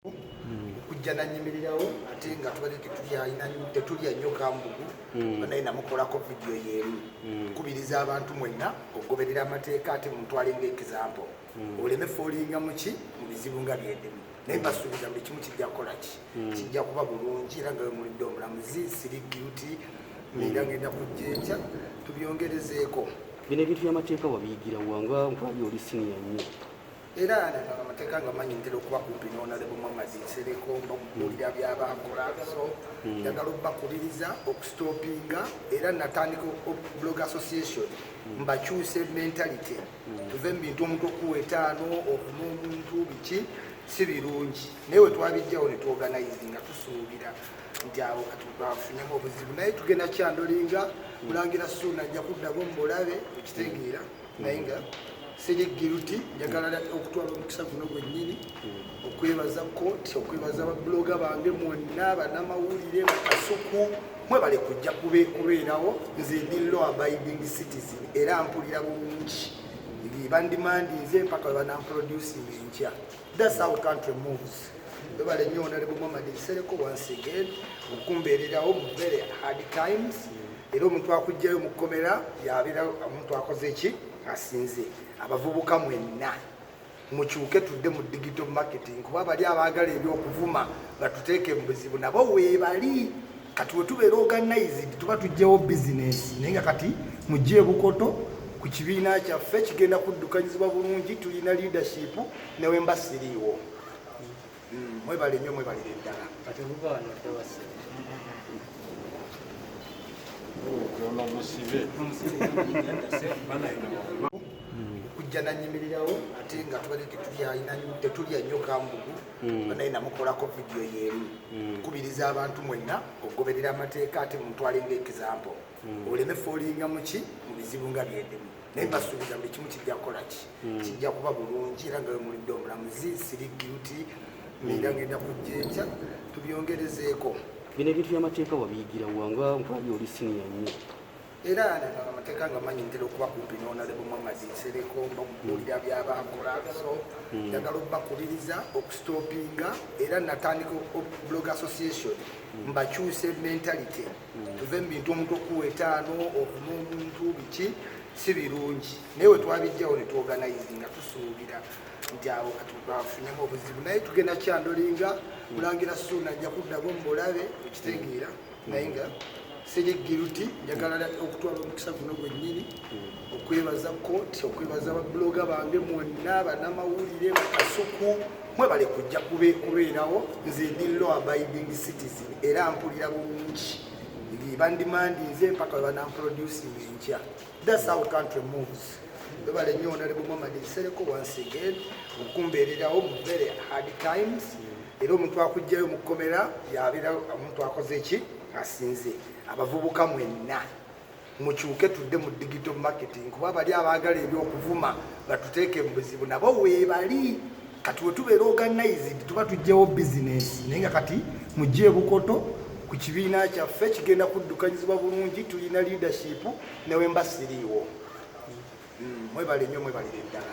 okujja nanyimirirawo ate nga tubadde tetulya nnyo kambugu hmm. naye namukolako vidiyo yeemu hmm. kubiriza abantu mwenna okugoberera amateeka ate mutwale nga ekizampo hmm. oleme foolinga muki mu bizibu nga byedimu naye mbasuubiza buli kimu kijja kukola ki kijja kuba bulungi era nga wemulidde omulamuzi siri guti era ngenda kujja ekya tubyongerezeeko bino ebintu byamateeka wabiyigirawa nga nkulabye oli siniya nnyo era amateeka nga manyi ntera okuba kumpi nonalebo muhamadi nsereko nokubuulira byabakola so hmm. njagala okubakubiriza okustopinga era natandika blog association hmm. mbakyuse mentality hmm. tuve mu bintu omuntu okuwa etaano okuma omuntu biki si birungi naye wetwabijjawo netwoganize nga tusuubira nti awo katubafunemu obuzibu naye tugenda kyandolinga kulangira suuna ajja kuddago mubulabe okitegeera naye nga siri giruti njagala okutwala omukisa guno gwennyini okwebaza kooti okwebaza babuloga bange mwonna banamawulire bakasuku mwebale kujja kubeerawo nze ndi law abiding citizen era mpulira bulungi bandimandinze mpaka webanamproducing enkya That's how country moves. Webale nnyo Honorable Muhammad Nsereko once again okumbeererawo mu very hard times era omuntu akugjayo mu kkomera yabeera omuntu akoze ki asinze abavubuka mwenna mukyuke tudde mu digital marketing kuba bali abaagala ebyokuvuma batuteeke mu buzibu nabo weebali kati wetubeera organized tuba tujjawo bizinesi naye nga kati mujja ebukoto ku kibiina kyaffe kigenda kuddukanyizibwa bulungi tulina leadership newemba siriiwo hmm, mwebale nyo mwebalire ddala okujja nanyimirirawo ate nga tubadde tetulya nyo kambugu mm. naye namukolako vidiyo yeemu mm. kubiriza abantu mwenna okugoberera amateeka ate mumutwale nga ekizampo mm. oleme foolinga muki mu bizibu nga byendimu naye mbasuubiza buli kimu kijja kukola ki kijja kuba bulungi era nga wemulidde omulamuzi siri guilty era ngenda kujjeekya tubyongerezeeko bino ebintu byamateeka wabiyigira wanga nkwabya oli siniya nnyo era amateeka nga manyi ntera okuba kumpi n'onalebo muhammadi nsereko nokubuulira byabaakola so hmm. njagala okubakubiriza okusitopinga era natandika blog association hmm. mbakyuse mentality hmm. tuve mu bintu omuntu okuwa etaano okuma omuntu biki si birungi naye wetwabijjawo netwoganize nga tusuubira nti awo katubafunemu obuzibu naye tugenda kyandolinga kulangira suuna ajja kuddago mubulabe okitegeera naye nga siri giruti njagala okutwala omukisa guno gwennyini okwebaza kooti okwebaza babuloga bange mwonna banamawulire bakasuku mwebale kujja kubeerawo nze ndi law abiding citizen era mpulira bulungi bandimandinze mpaka webanamproducing enkya That's how country moves. Webale nnyo Honorable Muhammad Nsereko once again okumbeererawo mu very hard times era omuntu akugjayo mu kkomera yabeera omuntu akoze ki asinze abavubuka mwenna mukyuke tudde mu digital marketing kuba bali abaagala ebyokuvuma batuteeke mu buzibu nabo weebali kati wetubeera organized tuba tujjawo bizinesi naye nga kati mujja ebukoto ku kibiina kyaffe kigenda kuddukanyizibwa bulungi tulina leadership newemba siriiwo hmm, mwebale nyo mwebalire ddala